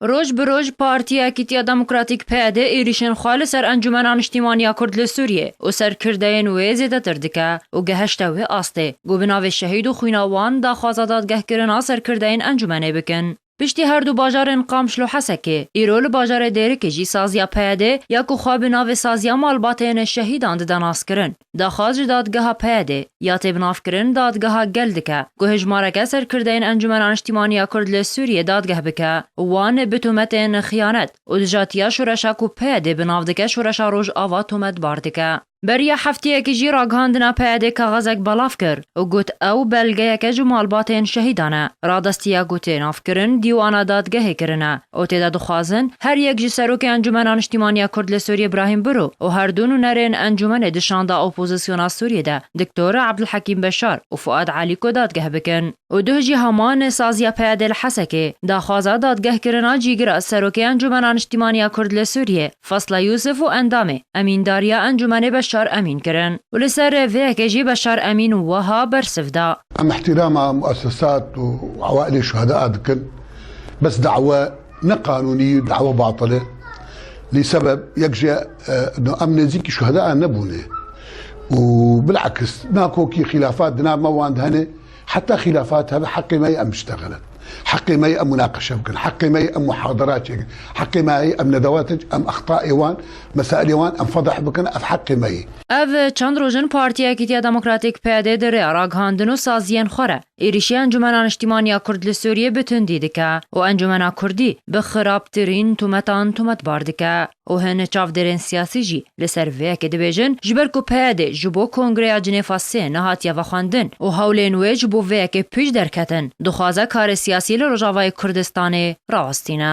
Roj bi roj Partiya Yekîtiya Demokratîk PYD êrîşên xwe li ser Encûmena Niştîmaniya Kurd li Sûriyê û ser kirdeyên wê zêdetir dike û gehişte wê astê ku bi navê şehîd û xwîna wan daxwaza dadgehkirina ser kirdeyên encûmenê bikin. Piştî her du bajarên Qamşl û Hesekê, îro li bajarê Dêrikê jî saziya PYD ya ku xwe bi navê Saziya Malbateyên Şehîdan dide naskirin, Daxwaz ji Dadgeha PYDê ya têbinavkirin Dadgeha Gel dike ku hejmareke serkirdeyên Encumena Niştîmanî ya Kurd li Sûriyê dadgeh bike wan bi tometên xiyanet û dijatiya şoreşa ku PYDê bi nav dike Şoreşa Rojava tometbar dike. Beriya hefteyekî jî ragihandina PYDê kaxezek belav kir û got ew belgeyeke ji malbatên şehîdan e. Radestiya ku tênavkirin dîwana dadgehê kirine û tê de dixwazin her yek ji Serokê Encûmena Niştîmanî ya Kurd li Sûriyê Brahîm Biro û her du nûnerên encûmenê di şanda opozîsyona Sûriyê de Diktor Abdulhekîm Beşar û Fuad Alîko dadgeh bikin û duh jî heman saziya peyadê li Hesekê daxwaza dadgehkirina cîgira Serokê Encûmena Niştîmanî ya Kurd li Sûriyê Fasla Yûsif û endamê Emîndariya Encûmenê Beşar Emîn kirin û li ser vê yekê jî Beşar Emîn wiha bersiv da. Em îhtîrama muesesat û ewaîlê şuheda dikin. Bes dawa ne qanûnî û dawa batil e. Lê sebeb yek ji no em nêzîkî şuhedayan nebûne û bil'aks nako kî xîlafat di nav me wan de hene. Heta xîlafat hebe heqê me ye em biştexilin. Heqê me ye em munaqeşe bikin. Heqê me ye em muhadara çêkin. Heqê me ye em nedewate em extaê wan, mesailê wan em fedeh bikin. Ev heqê me ye. Ev çend roj in Partiya Yekîtiya Demokratîk, PYD, di rêya ragihandin û saziyên xwe re, Êrîşî Encûmena Niştîmanî ya Kurd li Sûrîyê bi tundî dike û Encûmena Kurdî bi xirabtirîn tometan tometbar dike û hin çavdêrên sîyasî jî li ser vê yekê dibêjin ji ber ku PYDê ji bo Kongreya Cinêfa Sê nehatiye vexwendin û hewlên wê ji bo vê yekê pîş derketin dixwaze karê sîyasî li Rojavayê Kurdistanê rawestîne.